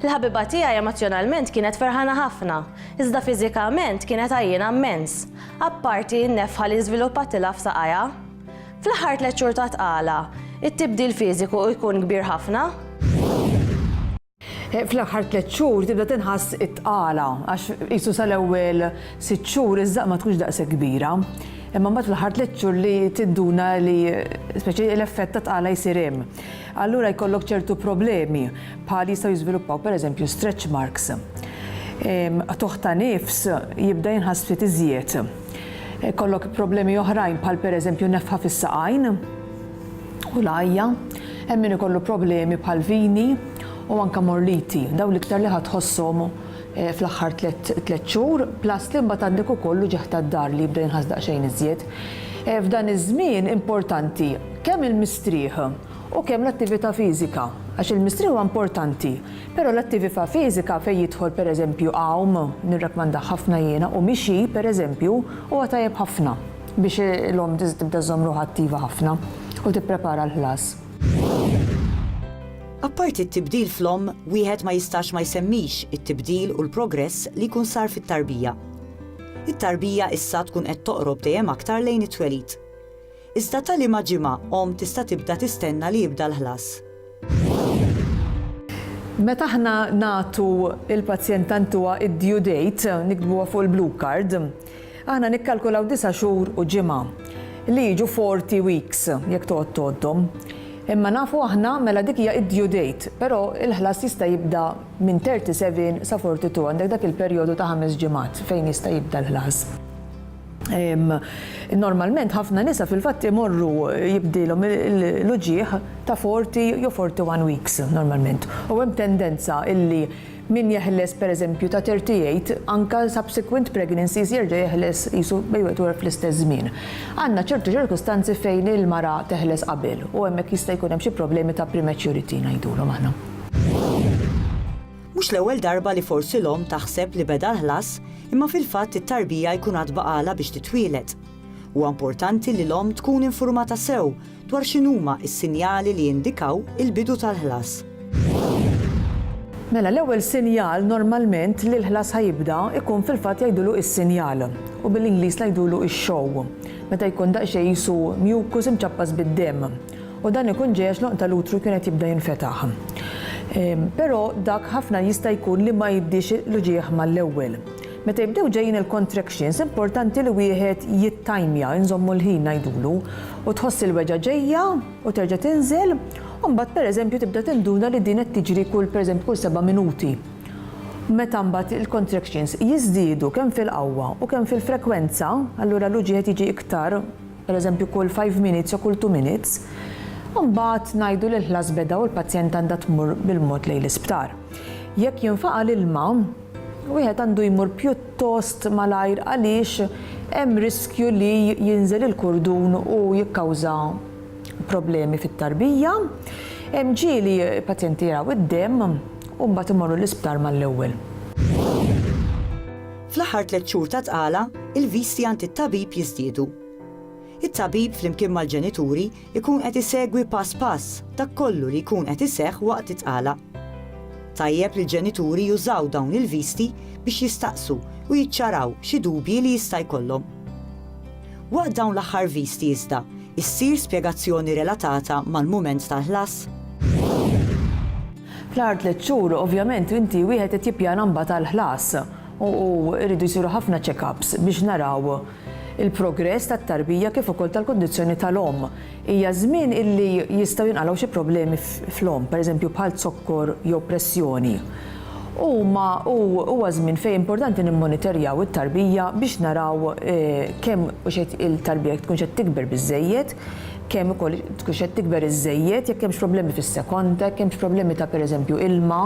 Il-ħabiba tiegħi emozzjonalment kienet ferħana ħafna, iżda fiżikament kienet għajjiena mmens, apparti n-nefħa li żviluppattilha f'saqajha. Fl-aħħar tliet xhur ta' tqala, it-tibdil fiżiku jkun kbir ħafna. Fl-aħħar tliet xhur tibda tinħass it-tqala għax qisu sal-ewwel sitt xhur iż-żaq ma tkunx daqshekk kbira. Imma mbagħad fl-aħħar tliet xhur li tidduna li speċi l-effett ta' tqala jsir hemm. allura jkollok ċertu problemi bħal jistgħu jiżviluppaw pereżempju stretch marks, qtugħ ta' nifs jibda jinħass ftit iżjed, ikollok problemi oħrajn bħal pereżempju nefħa fis-saqajn u l-għajja, hemm min ikollu problemi bħal vini u anke morliti, dawn l-iktar li ħa tħosshom fl-aħħar tliet xhur, plus li mbagħad għandek ukoll l-uġigħ tad-dar li jibda jinħass daqsxejn iżjed. F'dan iż-żmien importanti kemm il-mistrieħ u kemm l-attività fiżika, għax il-mistrieħ huwa importanti, però l-attività fiżika fejn jidħol pereżempju għawm, nirrekkmandah ħafna jiena, u mixi pereżempju huwa tajjeb ħafna biex l-omm tibda żżomm ruħha attiva ħafna u tipprepara l-ħlas. Apparti t-tibdil fl-omm, wieħed ma jistax ma jsemmix it-tibdil u l-progress li jkun sar fit-tarbija. It-tarbija issa tkun qed toqrob dejjem aktar lejn it-twelid. Iżda ta' liema ġimgħa omm tista' tibda tistenna li jibda l-ħlas? Meta aħna nagħtu lill-pazjent tant huwa id-due date, niktbuha fuq il-blue card, Aħna nikkalkulaw disa' xhur u ġimgħa, li jiġu forty weeks jekk toqgħod tgħoddhom. Imma nafu aħna, mela dik hija d-due date, però l-ħlas jista' jibda minn thirty seven sa forty two, għandek dak il-perjodu ta' ħames ġimgħat fejn jista' jibda l-ħlas. Normalment ħafna nisa fil-fatt imorru jibdilhom l-uġigħ ta' forty jew forty one weeks normalment u hemm tendenza illi Min jeħles pereżempju ta' 38 anke subsequent pregnancies jerġa' jeħles qisu baby at work fl-istess żmien. Għandna ċertu ċirkustanzi fejn il-mara teħles qabel u hemmhekk jista' jkun hemm xi problemi ta' prematurity ngħidulhom aħna. Mhux l-ewwel darba li forsi l-omm taħseb li beda l-ħlas imma fil-fatt it-tarbija jkun għad baqagħlha biex titwieled. Huwa importanti li l-omm tkun infurmata sew dwar x'inhuma s-sinjali li jindikaw il-bidu tal-ħlas. Mela l-ewwel sinjal normalment li l-ħlas ħa jibda jkun fil-fatt jgħidulu is-sinjal u bil-Ingliż ngħidulu x-show meta jkun daqsxejn qisu mucus imċappas bid-demm u dan ikun ġej għax l-għonq tal-utru jkun qed jibda jinfetaħ. Però dak ħafna jista' jkun li ma jibdiex l-uġigħ mal-ewwel. Meta jibdew ġejjin il-contractions importanti li wieħed jittajmja, inżommu l-ħin ngħidulu, u tħoss il-weġgħa ġejja u terġa' tinżel, u mbagħad pereżempju tibda tinduna li din qed tiġri kull pereżempju kull seba' minuti. Meta mbagħad il-contractions jiżdiedu kemm fil-qawwa u kemm fil-frekwenza, allura l-uġigħ qed jiġi iktar, pereżempju kull five minutes jew kull two minutes, imbagħad ngħidu li l-ħlas beda u l-pazjent għandha tmur bil-mod lejn l-isptar. Jekk jinfaqa' l-ilma, Wieħed għandu jmur pjuttost malajr għaliex hemm riskju li jinżel il-kurdun u jikkawża problemi fit-tarbija. Hemm ġieli pazjenti jaraw id-demm u mbagħad imorru l-isptar mal-ewwel. Fl-aħħar tliet xhur ta' tqala, il-visti għand it-tabib jiżdiedu. It-tabib flimkien mal-ġenituri Ikun qed isegwi pass pass dak kollu li jkun qed iseħħ waqt it-tqala. Tajjeb li l-ġenituri jużaw dawn il-visti biex jistaqsu u jiċċaraw xi dubji li jista' jkollhom. Waqt dawn l-aħħar visti iżda, issir spjegazzjoni relatata mal-mument tal-ħlas. Fl-aħħar tliet xhur, ovvjament, inti wieħed qed jippjana mbagħad għall-ħlas u jridu jsiru ħafna check-ups biex naraw il-progress tat-tarbija kif ukoll tal-kundizzjoni tal-omm. Hija żmien illi jistgħu jinqalgħu xi problemi fl-omm, pereżempju bħal zokkor jew pressjoni. Huma u huwa żmien fejn importanti nimmonitorjaw it-tarbija biex naraw kemm hux qed il-tarbija jekk tkunx qed tikber biżżejjed, kemm ukoll tkunx qed tikber iżżejjed, jekk hemmx problemi fis-sekonda, jekk hemmx problemi ta' pereżempju ilma.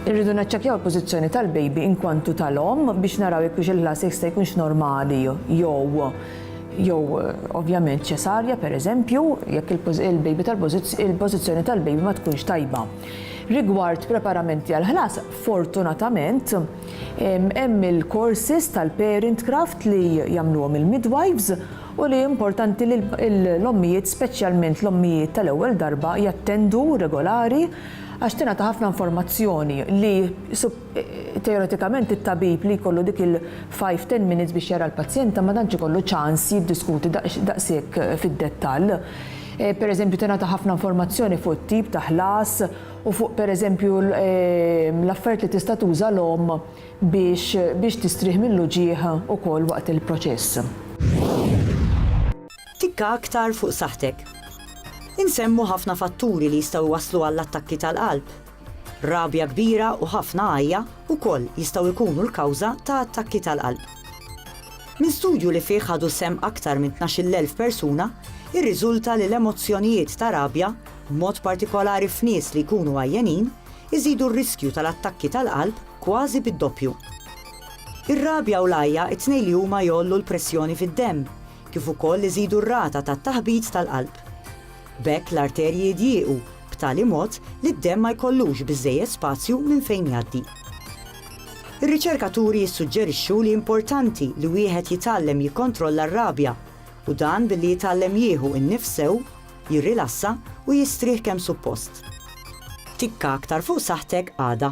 Irridu naċċekkjaw il-pożizzjoni tal-baby inkwantu ta' l-omm biex naraw jekk hux il-ħlas jista' jkunx normali jew jew ovvjament ċesarja pereżempju jekk il-baby tal-pożizzjoni tal-baby ma tkunx tajba. Rigward preparamenti għall-ħlas, fortunatament hemm il-courses tal-parent craft li jagħmluhom il-midwives u li importanti li l-ommijiet speċjalment l-ommijiet tal-ewwel darba jattendu regolari Għax tingħata ħafna informazzjoni li teoretikament it-tabib li jkollu dik il-five, ten minutes biex jara l-pazjenta ma tantx ikollu ċans jiddiskuti daqshekk fid-dettall. Pereżempju tingħata ħafna informazzjoni fuq it-tip ta' ħlas u fuq pereżempju l-affarijiet li tista' tuża l-omm biex biex tistrieħ mill-uġigħ ukoll waqt il-proċess. Tikka aktar fuq saħħtek. Insemmu ħafna fatturi li jistgħu jwasslu għall-attakki tal-qalb. Rabja kbira u ħafna għajja wkoll jistgħu jkunu l-kawża ta' attakki tal-qalb. Minn studju li fih ħadu sehem aktar minn tnax-il elf persuna irriżulta li l-emozzjonijiet ta' rabja, b'mod partikolari f'nies li jkunu għajjenin, iżidu r-riskju tal-attakki tal-qalb kważi bid-doppju. Ir-rabja u l-għajja t-tnejn li huma jgħollu l-pressjoni fid-demm, kif ukoll iżidu r-rata tat-taħbit tal-qalb. B'hekk l-arterji jidjiequ b'tali mod li d-demm ma jkollux biżżejjed spazju minn fejn jgħaddi. Ir-riċerkaturi jissuġġerixxu li importanti li wieħed jitgħallem jikkontrolla r-rabja, u dan billi jitgħallem jieħu n-nifs sew, jirrilassa u jistrieħ kemm suppost. Tikka aktar fuq saħħtek għada.